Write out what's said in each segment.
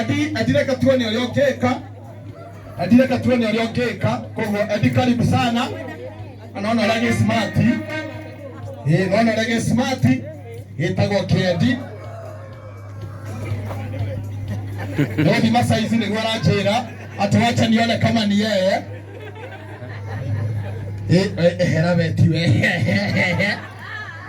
Edi, Edi reke tuone ũrĩa ũngĩka. Edi reke tuone ũrĩa ũngĩka. Koguo Edi karibu sana. Anaona ũrĩa gĩ smart. Eh, naona ũrĩa gĩ smart. Gĩtagwo kĩedi. Ndio thima saizi nĩguo aranjĩra atĩ wacha nione kama ni yeye. Eh, eh, ehera beti we.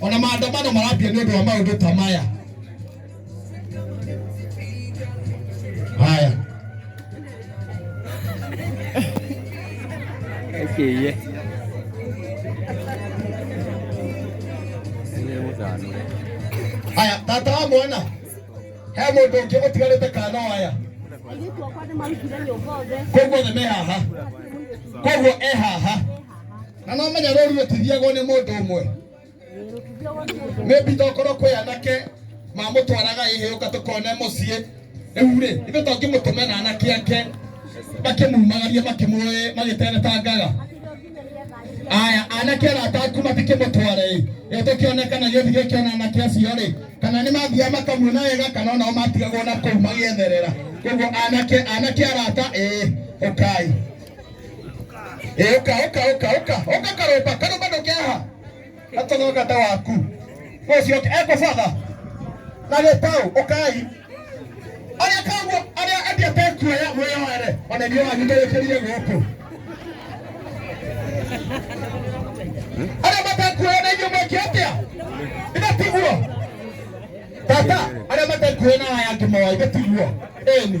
ona maandamano marambia nĩ ũndũ wa maũndũ ta maya haya Akiye. Nĩ mũthanure. haya tata wa mwana he mũndũ ũngĩ ũtigarĩte kana waya Airĩtu akwa nĩ marutire nyũmba othe koguo othe me haha koguo e haha na no menya rũru rũtithiagwo nĩ mũndũ ũmwe maybe tokorwo kwĩ anake mamũtwaraga ihĩũka tũkone mũciĩ rĩu rĩ ithe to ngĩmũtũme na anake ake makĩmumagaria makĩmũĩ magĩteretangaga aya anake arata aku matikĩmũtware ĩ ĩ tũkĩone kana gĩthi gĩkĩona anake acio rĩ kana nĩ mathiaga makamuona wega kana onao matigagwo na kũu magĩetherera koguo anake anake arata ĩ ũkai Ĩ, ũka ũka ũka ũka ũka karũmba karũmba ndũkĩaha atũthogata waku ũcio ekwa batha na gĩtaũ ũkai arĩa kaguo arĩa endia tekuoya mwĩyoere ona ithuĩ wanyu tũrĩkĩrie gũkũ arĩa matekuoya na ithuĩ mwĩke atĩa ithe tiguo tata arĩa matekuoya na aya angĩ moa ithe tiguo ĩni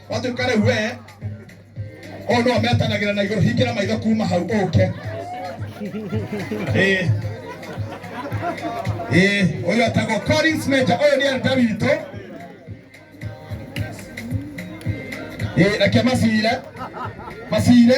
Watuĩka rĩu we ũyũ nĩwe metanagĩra na igũrũ, hingĩra maitho kuma hau ũke. Ĩĩ. Ĩĩ, ũyũ etagwo Collins Major, ũyũ nĩ elder witũ. Ĩĩ, reke macire, macire.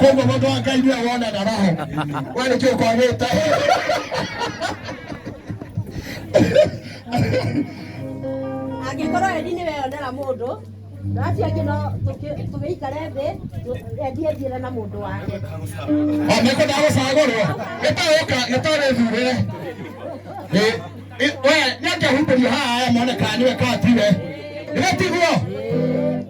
koguo mũndũ wa ngai nĩwe wonaga roho we nĩkĩ ũkwagĩte angĩkorwo endi nĩ weyonera mũndũ acio angĩ no tũkĩ- tũgĩikare thĩ tũ- endi ethiĩre na mũndũ wake oneko ndagũcagũrwo gĩtaũka gĩtarĩthurĩre we nĩangĩhumbĩrio haha mone kana nĩwe katire nĩgetiguo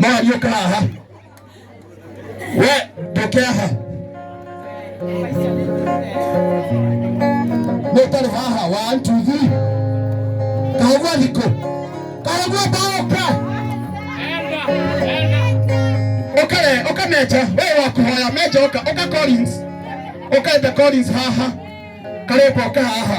mwaria ũka haha we ndũke haha nĩ ũtarĩ haha one two three kahũgua thikũ kahũgua baũka ũkare ũka meja wewe wa kũhoya meja ũka ũka Collins ũkaete Collins haha karĩkwa ũka haha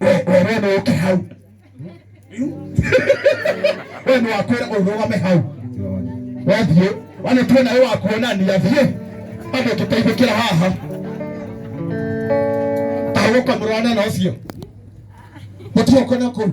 we no uke hau we no akwira urugame hau wathie wana tuona we wakuonania thie bado tutaithukira haha tahuka murwana na ucio mutuokona kuu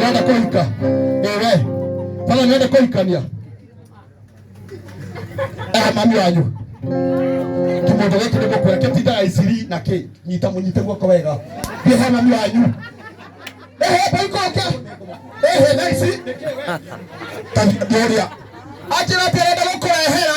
nenda kuhika ewe pala nenda kuhikania eh mami wanyu kimundu giki ni mukwira kitindaga iciri na ki nyita munyite guoko wega thiĩ he mami wanyu ehe baikoke ehe na ici Tani- nĩũrĩa anjĩra atĩ arenda gũkũrehera